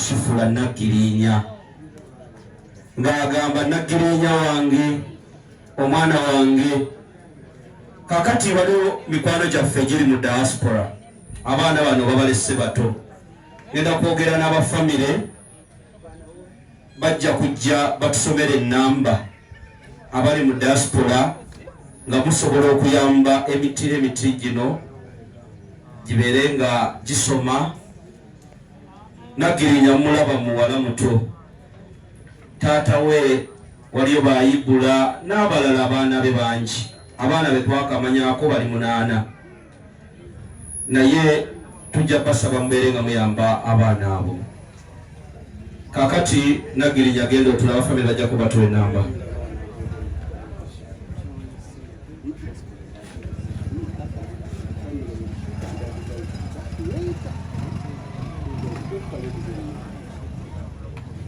Sifula Naggiriinya ng'agamba Naggiriinya wange omwana wange kakati waliwo mikwano gyaffe giri mu diaspora abaana bano babalese bato ngenda kwogera n'abafamire bajja kujja batusomera ennamba abali mu diaspora nga musobola okuyamba emitira emiti gino gibeere nga gisoma Nagirinya mulaba muwala muto taata we waliyo bayibula n'abalala abaana be bangi abaana be twakamanyako bali munaana naye tujja basaba mubeere nga muyamba abaana abo kakati nagirinya agenda otulaba famire bajja kubatula enamba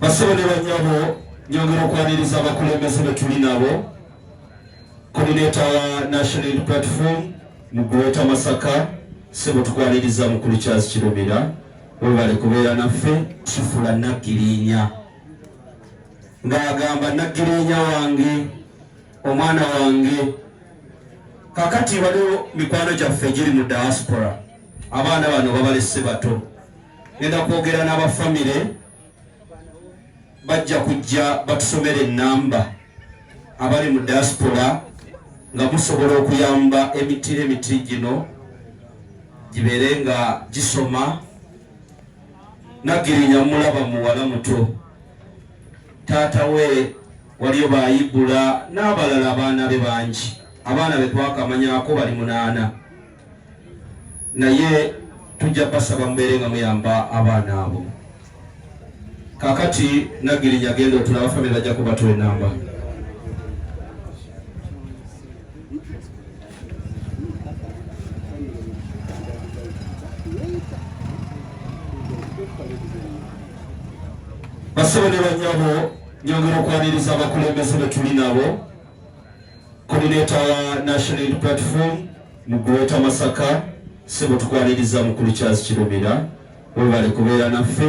basebo ne banyabo nyongera okwaniriza abakulembeze betuli nabo koordinator wa national platform mu greater masaka sebo tukwaniriza mukulu charles kirobera webale kubeera naffe kifula naggirinya ng'agamba naggirinya wange omwana wange kakati waliwo mikwano gyaffe giri mu diaspora abaana bano babalese bato genda kwogera n'abafamire bajja kujja batusomera enamba abali mu diaspora nga musobola okuyamba emitira emitiri gino gibeere nga gisoma nagirinya mulaba muwala muto taata we waliyo bayibula n'abalala abaana be bangi abaana be twakamanyako bali munaana naye tujja basaba mubeere nga muyamba abaana abo kakati nagirinya genda otulaba famire bajja kubatula enamba basebe ne banyabo Nyongera okwaniriza abakulembeze betuli nabo koordinator wa National Unity Platform mu Greater Masaka sebo tukwaniriza mukulu Charles Kirumira webale kubeera naffe